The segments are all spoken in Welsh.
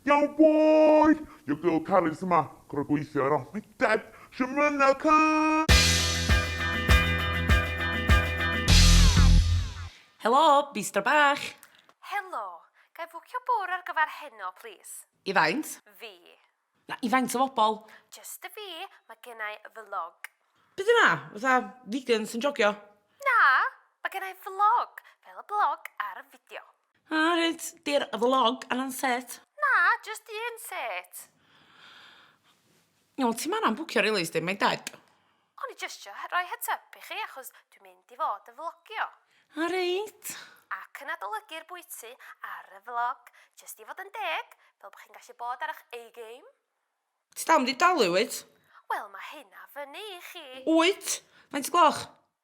Yow boy! Your girl Carys yma! Gorfod gweithio heno! Oh my dad! Shwt ma hynna cân! Helo! Bistro bach! Helo! Ga i fwcio bwr ar gyfer heno plîs? I faint? Fi. Na, i faint o fobl? Jyst y fi, ma genna i vlog. Be di hwnna? Fatha vegans yn jogio? Na! Ma genna i vlog, fel y blog ar y fideo. A reit, di'r vlog anna'n set? Na, jyst un set. Iawn, ti'm anna'n bwcio rili, sdi, mae'n deg. O'n i jyst isio rhoi heads up i chi achos dwi'n mynd i fod yn vlogio. A reit. Ac yn adolygu'r bwyty ar y vlog. Jyst i fod yn deg, fel bod chi'n gallu bod ar eich A-game. Ti dal mynd i dalu wyt? Wel, mae hynna fyny i chi. Wyt? Faint y gloch?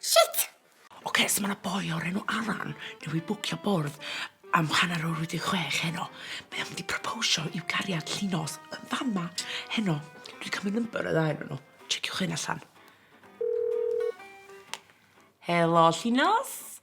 Shit! Ok, so ma' 'na boi o'r enw Alan newydd bwcio bwrdd am hanner awr wedi chwech heno. Mae o'n mynd i proposio i'w gariad Llinos yn fan 'ma heno. Dwi 'di ca'l myn number y ddau o'nyn nw. Checiwch hyn allan. Helo Llinos.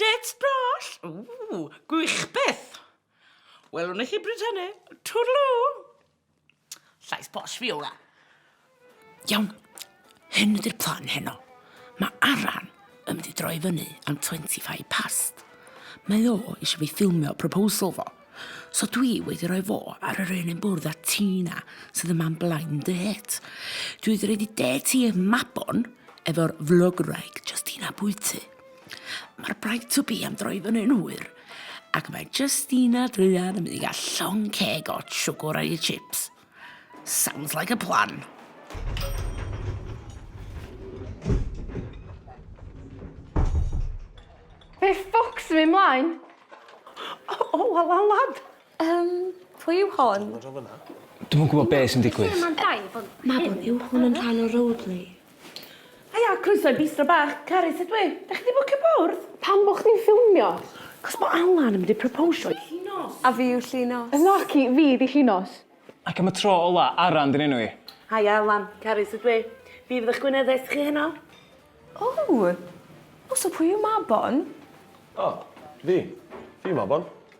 Dates brall! Ww, gwych byth! Welwn i chi bryd hynny. Twrlw! Llais posh fiola. Iawn, hyn ydy'r plan heno. Mae Aran yn mynd i droi fyny am 25 past. Mae o eisiau fi ffilmio proposal fo. So dwi wedi rhoi fo ar yr un yn bwrdd a Tina, sydd yma yn blaen dy het. Dwi wedi rhoi di det i eich mabon, efo'r vlog raig, just un a bwyty. Mae'r bride to be am droi fyny yn hwyr, ac mae Justina Druan yn mynd i gael llon ceg o siwgr a'i chips. Sounds like a plan. Fe ffwcs fi mlaen. O, o, wel, wel, lad. Um, pwy yw hon? Dwi'n yn gwybod be sy'n digwydd. Mae hwn yn rhan o roleplay. Haia, croeso i Bistro Bach. Carys ydw i. Dach chi 'di bwcio bwrdd? Pam bo' chdi'n ffilmio? Cos bo' Alan yn mynd i proposio i Llinos. A fi yw Llinos. Yn naci, fi 'di Llinos. Ac am y tro ola, Aran 'di'n enw i. Haia Alan, Carys ydw i. Fi fydd 'ych gweinyddes chi heno. O! O so pwy yw Mabon? O, fi. Fi yw Mabon.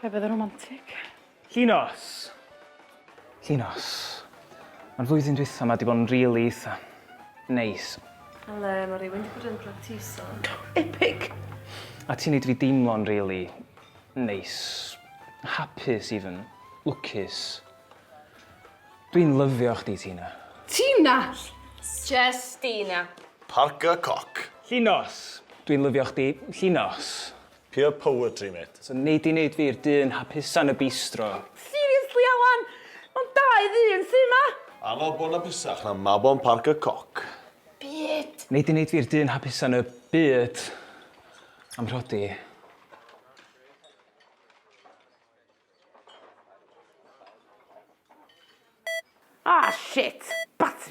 Fe fydde romantic. Llinos! Llinos. Ma'r flwyddyn dwytha ma di bod yn rili eitha. Neis. Ele, ma rywun di bod yn practiso. Epic! A ti'n neud fi deimlo'n rili. Neis. Hapus even. Lwcus. Dwi'n lyfio chdi, Tina. Tina! Jestina. Parc y Coc. Llinos! Dwi'n lyfio chdi. Llinos. Pure poetry mate. So nei di neud fi'r dyn hapusa yn y bistro? Seriously Allan! Mae'n dau ddyn sy 'ma! A mabon apusach na mabon Parc y Coc. Byd! Nei di neud fi'r dyn hapusa yn y byd? Am rhodi. Ah shit! Batri!